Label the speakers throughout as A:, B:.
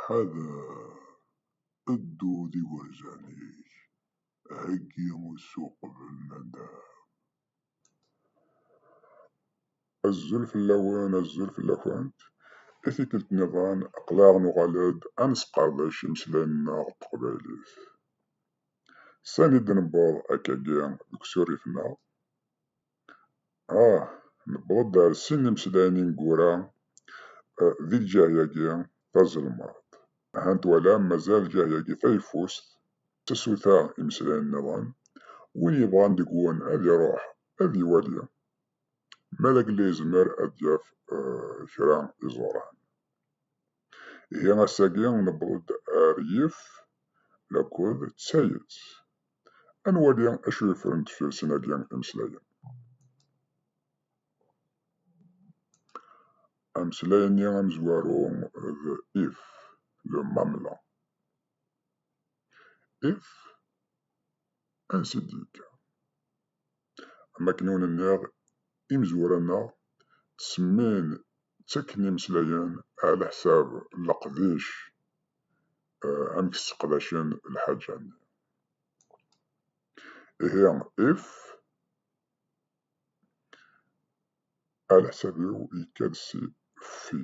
A: Ḥader! Ddu d igerzan-ik, heggi usu uqbel nadam. Azul fell-awen, azul fell-akent, i tikkelt nniḍen aql-aɣ nuɣal-d ad nesqerdec imeslayen-nneɣ n teqbaylit. Sani d-newweḍ akkagi deg usurif-nneɣ? Ah, newweḍ-d ar sin n imeslayen ineggura eh, di lǧahyagi tazelmaḍt. Ahan twalam mazal lǧahyagi tayeffust d tasuta imeslayen nniḍen, win yebɣan deg-wen ad iruḥ ad iwali, ma d agellid yezmer ad d-yaf eh, kra iẓuran. Ihi ass-agi newweḍ-d ar yif lakul d tayet. Ad nwali acu yeffren deffir sin-agi imeslayen. Ameslay-nni amezwaru d if, le mamla. If, ansi d-yekka? Amaknun-nneɣ, imezwura-nneɣ, ttsemmin, ttakken imeslayen ɛlaḥsab n leqdic, amek sseqdacen lḥaǧa-nni. Ihi, if, ɛlaḥsab-iw yekka-d si ffi.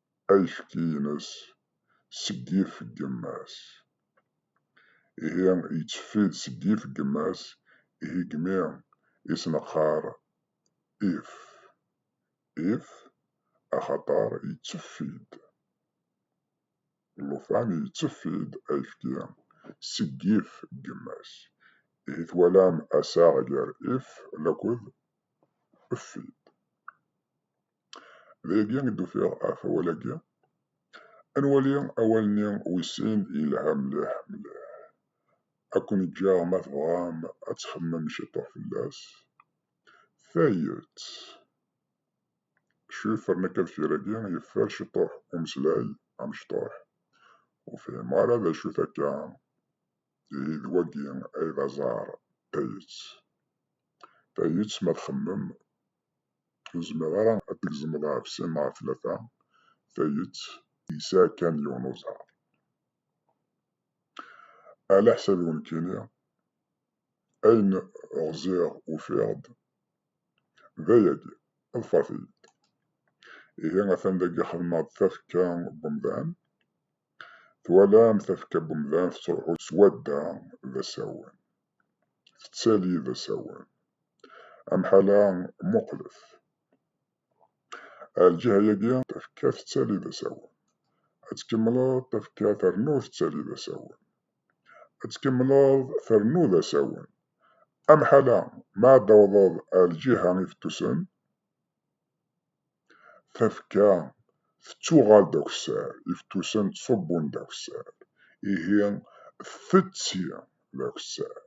A: ayefki-ines seg yif n yemma-s. Ihi yetteffi-d seg yif n yemma-s, ihi deg mi i s-neqqar if, if axaṭer yetteffi-d. Llufan yetteffi-d ayefki seg yif n yemma-s. Ihi twalam asaɣ gar if laked effi-d. Dagi i d-ufiɣ ɣef awal-agi. Ad nwali awal-nni wis sin yelha mliḥ mliḥ. Ad ken-ǧǧeɣ ma tebɣam ad txemmem ciṭuḥ fell-as. Tayet. Acu yeffren akka deffir-agi? Yeffer ciṭuḥ umeslay amecṭuḥ. Ur fhimeɣ ara d acu-t akka. Ihi d wagi ay d aẓar. Tayet. Tayet ma txemmem Ur tezmireḍ ara ad d-tgezmeḍ ɣef sin neɣ ɣef tlata tayet yesɛa kan yiwen uẓar. Ala ḥsabi ur nekkini, ayen ɣziɣ ufiɣ-d d ayagi, ḍfeṛt-iyi-d. Ihi atan dagi xedmeɣ-d tafekka n umdan. Twalam tafekka n umdan tettṛuḥu s wadda d asawen. tettali d asawen. Amḥal-a muqlet. Ar lǧiha-yagi tafekka tettali d asawen. Ad tkemmleḍ tafekka ternu tettali d asawen. Ad tkemmleḍ ternu d asawen. Amḥal-a ma ad tawḍeḍ ar lǧiha ifettusen, Tafekka tettuɣal d akessar, ifettusen ttṣubbun d akessar, ihi tetti d akessar.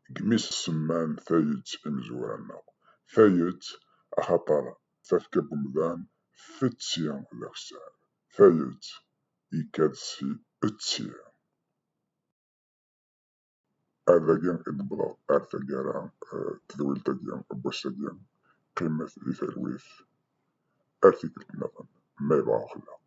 A: Deg imi s-semman tayet imezwura-nneɣ, tayet axaṭer d tafekka n umdan, tetti d akessar, tayet yekka-d si etti. ad agi i d-wwḍeɣ ar taggara tedwilt-agi n wass-agi qqimet di talwit ar tikkelt nniḍen ma yebɣa uxellaq.